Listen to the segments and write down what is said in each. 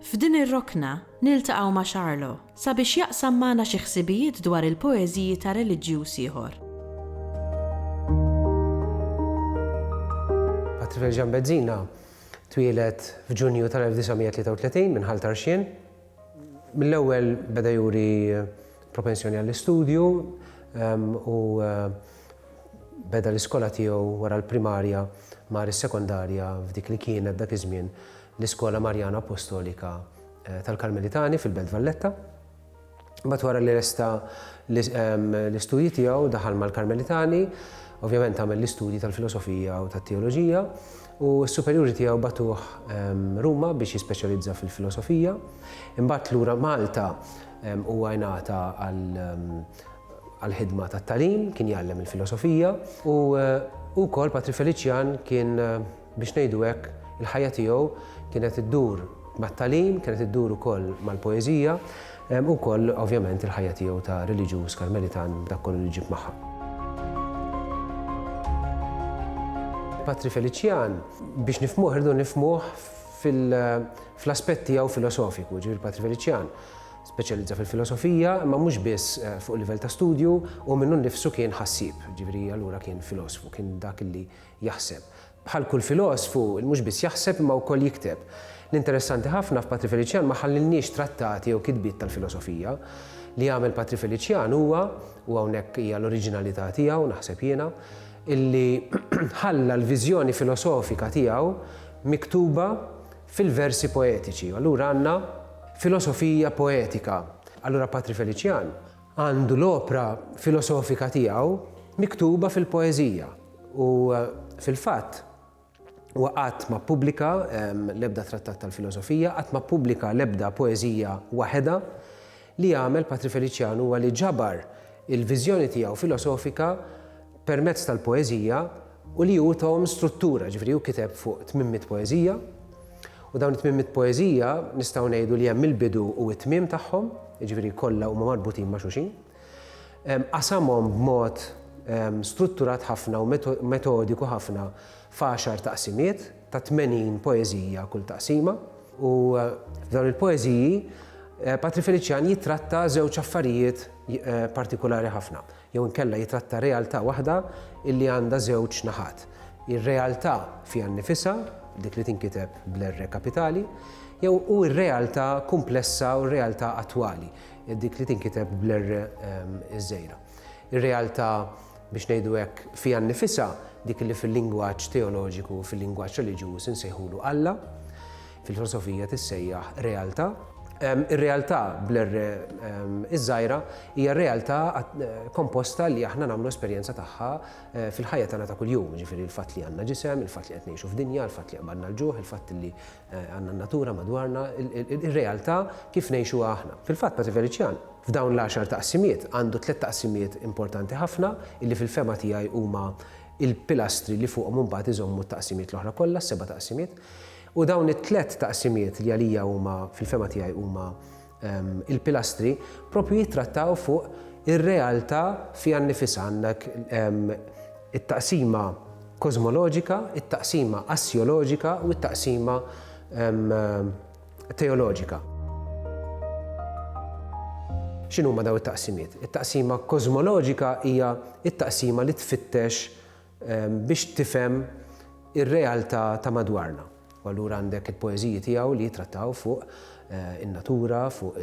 F'din ir-rokna, niltaqgħu ma' Charlo sabiex jaqsam magħna xi ħsibijiet dwar il-poeżiji ta' reliġjuż ieħor. Patrifel Jean Bezzina twieled f'Ġunju tal-1933 minn Ħal Tarxien. Mill-ewwel beda juri propensjoni għall-istudju u beda l-iskola tiegħu wara l-primarja mar is-sekondarja f'dik li kienet dak iż-żmien l-Iskola Marjana Appostolika tal-Karmelitani fil-Belt Valletta. Imbagħad wara li resta l-istudji tiegħu daħal mal-Karmelitani, ovvjament għamel l-istudji tal-filosofija u tat-teoloġija u s-superjuri tiegħu batuh Ruma biex jispeċjalizza fil-filosofija. Imbagħad lura Malta huwa ngħata għall-ħidma tat-tagħlim, kien jgħallem il-filosofija u wkoll Patri Feliċjan kien Biex ngħidu hekk, il-ħajja tiegħu kienet iddur mat-tagħlim, kienet iddur ukoll mal-poeżija, u wkoll ovvjament il-ħajja tiegħu ta' reliġjuż Karmelitan b'dak kollu li ġib magħha. Patri Felician, biex nifhmuh irridu nifhmuh fl-aspett tiegħu filosofiku, ġifieri Patri Felician speċjalizza fil-filosofija, imma mhux biss eh, fuq livell ta' studju, u minnu nnifsu kien ħassib, ġifieri allura kien filosfu, kien dak li jaħseb. Bħal kull filosfu, il mhux biss jaħseb imma wkoll jikteb. L-interessanti ħafna f'Patri Feliċjan ma ħallilniex trattati jew kitbiet tal-filosofija. Li għamel Patri Feliċjan huwa, u hawnhekk hija l-oriġinalità tiegħu, naħseb jiena, illi ħalla l-viżjoni filosofika tiegħu miktuba fil-versi poetiċi. Allura għandna filosofija poetika. Allura Patri Feliċjan Għandu l-opra filosofika tiegħu miktuba fil-poeżija u, fil-fatt, huwa qatt ma ppubblika l-ebda trattat tal-filosofija, qatt ma ppubblika l-ebda poeżija waħedha. Li għamel Patri Feliciano huwa li ġabar il-viżjoni tiegħu filosofika permezz tal-poeżija u li hu tahom struttura, ġifieri hu kiteb fuq tmien mitt poeżija u dawn it-tmien mitt poeżija nistgħu ngħidu li hemm il-bidu u t-tmiem tagħhom, jiġifieri kollha huma marbutin ma' xulxin. Qasamhom b'mod strutturat ħafna u metodiku ħafna f'għaxar taqsimiet ta' tmenin poeżija kull taqsima u f'dawn il-poeżiji Patri Feliċjan jittratta żewġ affarijiet partikulari ħafna. jew inkella jitratta realtà waħda illi għandha żewġ naħat, ir-realtà fiha nnifisha, dik li tinkiteb bl-R kapitali, jew u r-realtà kumplessa u r-realtà attwali, dik li tinkiteb bl-R iż-żgħira. Ir-realtà, biex ngħidu hekk, fiha nnifisha, dik li fil-lingwaġġ teoloġiku, fil-lingwaġġ reliġjuż insejħulu Alla, Fil-filosofija tissejjaħ realtà. Ir-realtà bl-R iż-żgħira hija realtà komposta li aħna nagħmlu esperjenza tagħha fil-ħajja tagħna ta' kuljum, jiġifieri l-fatt li għandna ġisem, il-fatt li qed ngħixu f'dinja, il-fatt li qbadna l-ġuħ, il-fatt li għandna n-natura madwarna, ir-realtà kif ngħixuha aħna. Fil-fatt Patri Felician, f'dawn l-għaxar taqsimiet, għandu tliet taqsimiet importanti ħafna li fil-fehma tiegħi huma l-pilastri li fuqhom imbagħad iżommu t-taqsimiet l-oħra kollha, s-seba' taqsimiet. U dawn it-tliet taqsimiet li għalija huma, fil-fehma tiegħi huma l-pilastri, proprju jittrattaw fuq ir-realtà fiha nnifisha. Għandek it-taqsima kożmoloġika, it-taqsima assjoloġika u t-taqsima teoloġika. X'inhuma dawn it-taqsimiet? It-taqsima kożmoloġika hija t-taqsima li tfittex biex tifhem ir-realtà ta' madwarna. U allura għandek il-poeżiji tiegħu li jittrattaw fuq in-natura, fuq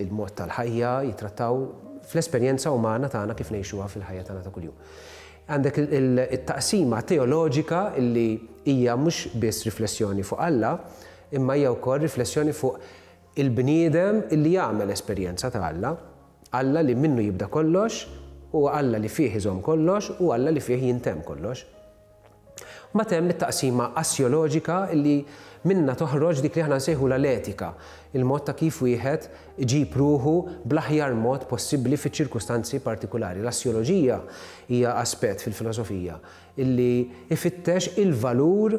il-mod tal-ħajja, jittrattaw fl-esperjenza umana tagħna kif ngħixuha fil-ħajja tagħna ta' kuljum. Għandek it-taqsima teoloġika li hija mhux biss riflessjoni fuq Alla, imma hija wkoll riflessjoni fuq Il-bniedem li jagħmel esperjenza ta' Alla, Alla li minnu jibda kollox, huwa Alla li fih iżomm kollox u Alla li fih jintemm kollox. Mbagħad hemm it-taqsima assjoloġika li minnha toħroġ dik li aħna nsejħulha l-etika, il-mod ta' kif wieħed iġib ruħu bl-aħjar mod possibbli fiċ-ċirkustanzi partikulari. L-assjoloġija hija aspett fil-filosofija li jfittex il-valur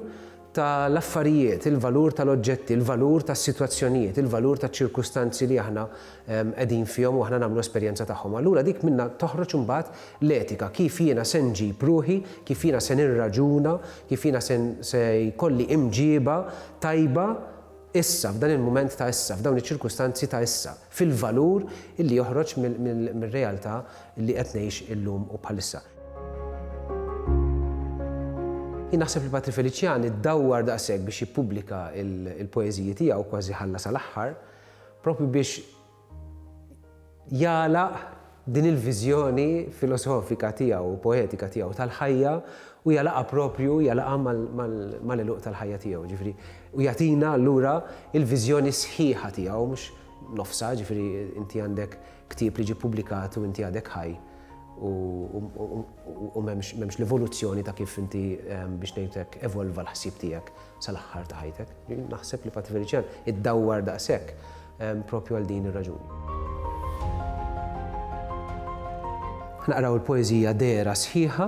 ta' l-affarijiet, il-valur ta' l-oġġetti, il-valur tas-sitwazzjonijiet, il-valur taċ-ċirkustanzi li aħna qegħdin fihom u aħna nagħmlu esperjenza tagħhom. Allura dik minnha toħroġ imbagħad l-etika, kif jiena se nġib ruħi, kif jiena se nirraġuna, kif jiena se se jkolli imġieba tajba issa, f'dan il-mument ta' issa, f'dawn iċ-ċirkustanzi ta' issa. fil-valur li joħroġ mir-realtà li qed ngħix illum u bħalissa. Jien naħseb li Patri Felician iddawwar daqshekk biex jippubblika l-poeżiji tiegħu, kważi ħalla sal-aħħar, propju biex jagħlaq Din il-viżjoni filosofika tiegħu u poetika tiegħu tal-ħajja u jagħlaqha proprju, jagħlaqha mal-għeluq tal-ħajja tiegħu, jiġifieri u jagħtina allura l-viżjoni sħiħa tiegħu mhux nofsha, jiġifieri inti għandek ktieb li ġie ppubblikat u inti għadek ħaj u m'hemmx l-evoluzzjoni ta' kif inti biex ngħidu hekk evolva l-ħsieb tiegħek. sal-aħħar ta' ħajtek. Naħseb li Patti Felician iddawwar daqshekk ehm, propju għal din ir-raġuni. Naqraw il-poezija dera sħiħa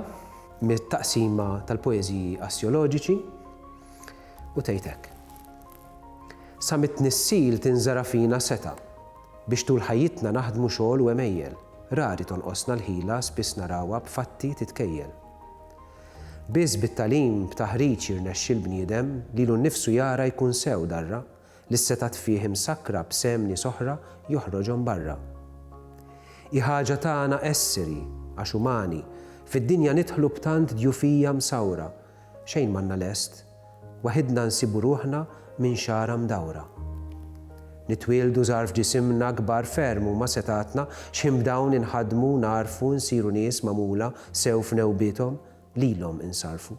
mit-taqsima tal-poeziji assjoloġiċi u tejtek. Sa mit-tnissil tinżara fina seta biex tul ħajjitna naħdmu xogħol u emejjel, rari tonqosna l-ħila spiss narawha b'fatti titkejjel. Biss bit-tagħlim b'taħriġ jirnexxi l-bniedem lilu nnifsu jara jkun sew darra li s-setgħat fih imsakkra b'sehem nies oħra joħroġhom barra. Hi ħaġa tagħna esseri, għax umani, fid-dinja nidħlu b'tant djufija msawra, xejn m'għandna lest, Waħidna nsibu ruħna minn xagħra mdawra. Nitwieldu żgħar f'ġisimna, kbar ferm huma setgħatna, x'ħin b'dawn inħaddmu, ngħarrfu, nsiru nies magħmula sew f'newbiethom, lilhom insarrfu.